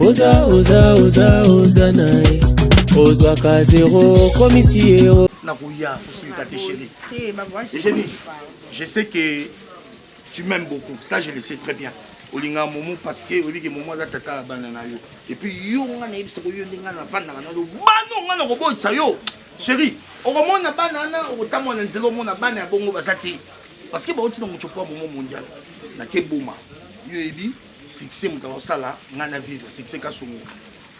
oza oza oza oza na ye ozwaka zero okomisi yero nakoya kosilika te chéri egeni je sais que tu m'aimes beaucoup ça je le sais très bien olinga momo parce que oyebi ke momo aza tata ya bana na yo epuis yo nga nayebisa ko yo nde nga navandaka na yo bana nga nakobotisa yo chéri okomona bana wana okotambola na nzela omona bana ya bongo baza te parce que bauti na mocopo ya momo mondial nakeboma yo oyebi succès moto akosala ngai na vivre succès kasongo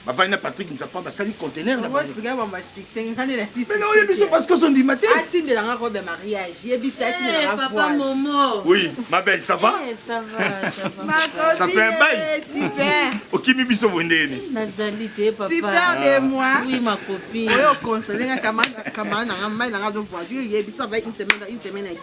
bavandi na patrick nzapa basali contener na oyebi biso parce que ozondima te oui ma belle ça va eh, ça fait un bail okimi biso boye ndenge nini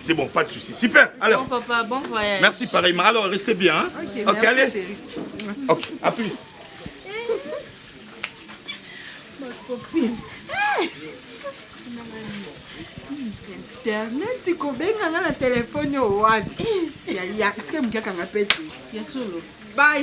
C'est bon, pas de souci. Super. Alors. Bon papa, bon voyage. Merci pareillement. Alors, restez bien. Hein? Ok, okay allez. Chérie. Ok, à plus. Ma copine. internet kobenga nga na telefone oyo wapi yaya etika mokiakanga pete ya solo bye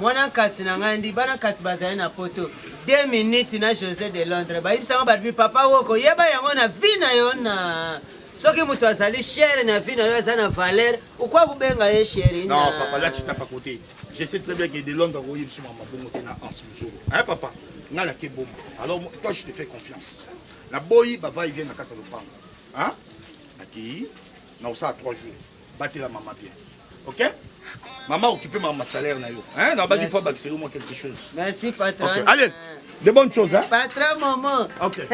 Mwana nkasi na ngai ndi bana nkasi bazali na poto 2 minutes na Jose de Londres bayibisanga babi papa woko yeba yango na vie na yo na soki moto azali chere na vie na yo aza na valeur okwa kobenga ye cheri non papa là tu t'as pas côté je sais très bien que de Londres akoyi biso mama bongo te na anse mozolo hein papa ngai nake boma alors toi je te fais confiance naboyi bavai vie na kati ya lopango hein nakei na osala 3 jours batela mama bien ok mama okipe mama salaire na yo hein na baki faut bakiselo moi quelque chose merci patron okay. allez euh, de bonnes choses hein? patron momo okay.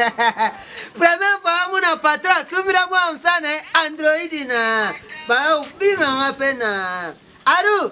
première fois amona patron asumira mwa msana android na baobinganga mpe na aru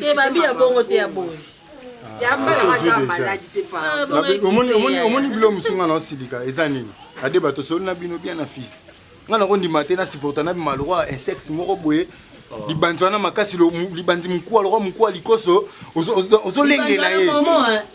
te babi ya bongo te ya boye omoni bilo mosu nga na osilika eza nini ade bato osoli na bino bien na fils nga nakondima te na supporta na bima lokwa insecte moko boye oh. libanzi wana makasi libanzi mokuwa lokwa mokuwa likoso ozolengela ye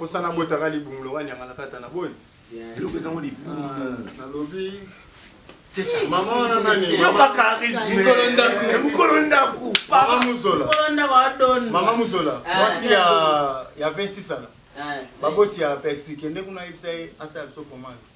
osana botaka libumu loka nyanga na kata na boni eloko ezango libumu ah, nalobi mokolo ndako mama mozola ah. mwasi ya 26 ana ah. baboti ya pexi kende kuna yebisa ye asala biso komanda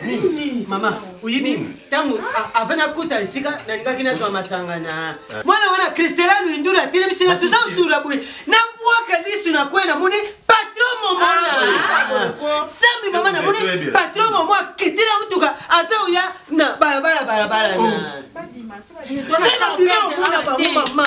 nini mama oyebi ntango avant nakota esika nalingaki nazwa masanga na mwana wana kristela luindulu atelemisika toza kosula boye nabwaka lisu na kwe namoni patron momo na zambi mama namoni patron momo akitela motuka aza oya na balabala balabala na se babima omona bango mama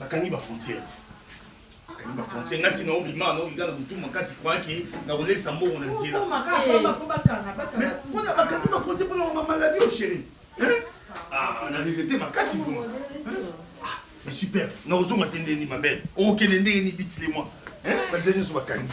bakangi ba frontière te bakangi ba frontière ngati na obima na okiga na motu makasi kwaki na kolesa mbongo na nzela mpona bakangi ba frontière mpona ma maladie o chéri na regrete makasi vrima mais super na ozonga te ndeni ma belle okende ndenge ni bitile mwa banzela nyonso bakangi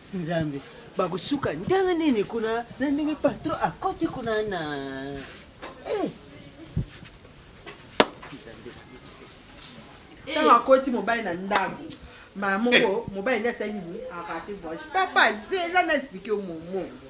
Nzambe, bakosuka ndenge nini kuna na ndenge patron akoti kuna na eh. ntango eh. akoti mobali na ndako mama moko eh. mobali nde asali nini arate voyage papa zela na explike yo momo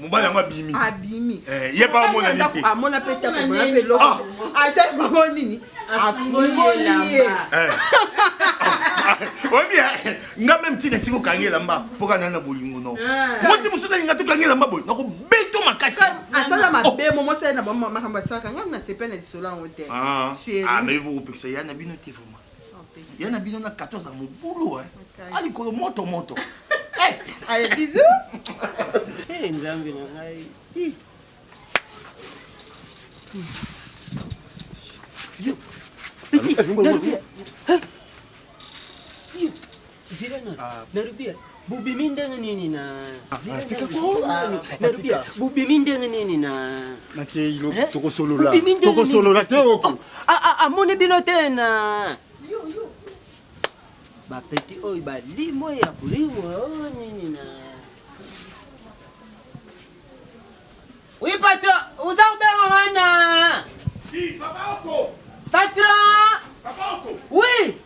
mobali yango abimi abimi eh, ye pa amona nini te amona pe ta komona pe loko ah! aza mama nini afungoli ye eh. oyebi eh, nga meme ntina ntinga okangi elamba mpo kana na bolingo no ah. mwasi mosusu nalinga tokangi elamba boye nakobeto makasi asala mabe oh. mo mosali na bamakambo asalaka nga nasepela na lisolo yango te ah. ah, mais bokopekisa ya na bino te vraiment ya na bino na 14 ya mobulu alikolo moto moto aye bizu nzambe na ngai bobimi ndenge nini na bobimi ndenge nini na amoni bino te na bapeti oyo balimo ya kolimo oh, nini na Oui, patron, vous avez un Si, papa Oko. Patron. Papa Oko. Oui.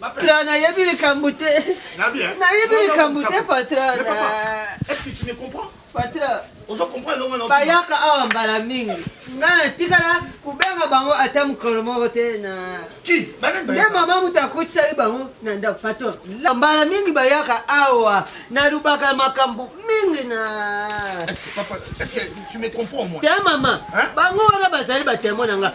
Patra, nayebi likambo te. Nayebi likambo te, Patra. Est-ce que tu me comprends? Patra. Ozo comprendre longa na. Bayaka awa mbala mingi. Nga na tikala kubenga bango ata mokolo moko te na. Ki? Bana bayaka. Nde mama moto akotisaki bango na ndako Patra. Mbala mingi bayaka awa na lubaka makambo mingi na. Est-ce que papa, est-ce que tu me comprends moi? Te mama. Hein? Bango wana bazali ba témoin na nga.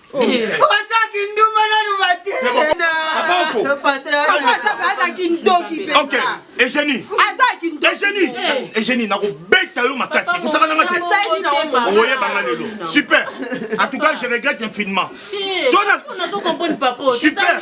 oza kinduma nanu bate egenie egenie nakobeta yo makasi kosaka nanga te okoyebanga lelo super en tout cas je regrette infiniment super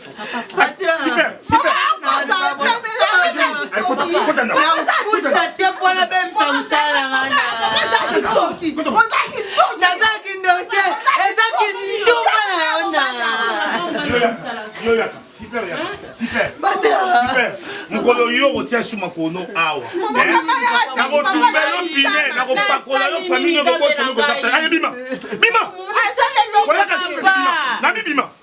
mokolo yo okotia suma kono awa nakotumba yo pine nakopakola yo famille nokokosolokozaa bima bima oyaka sima na bibima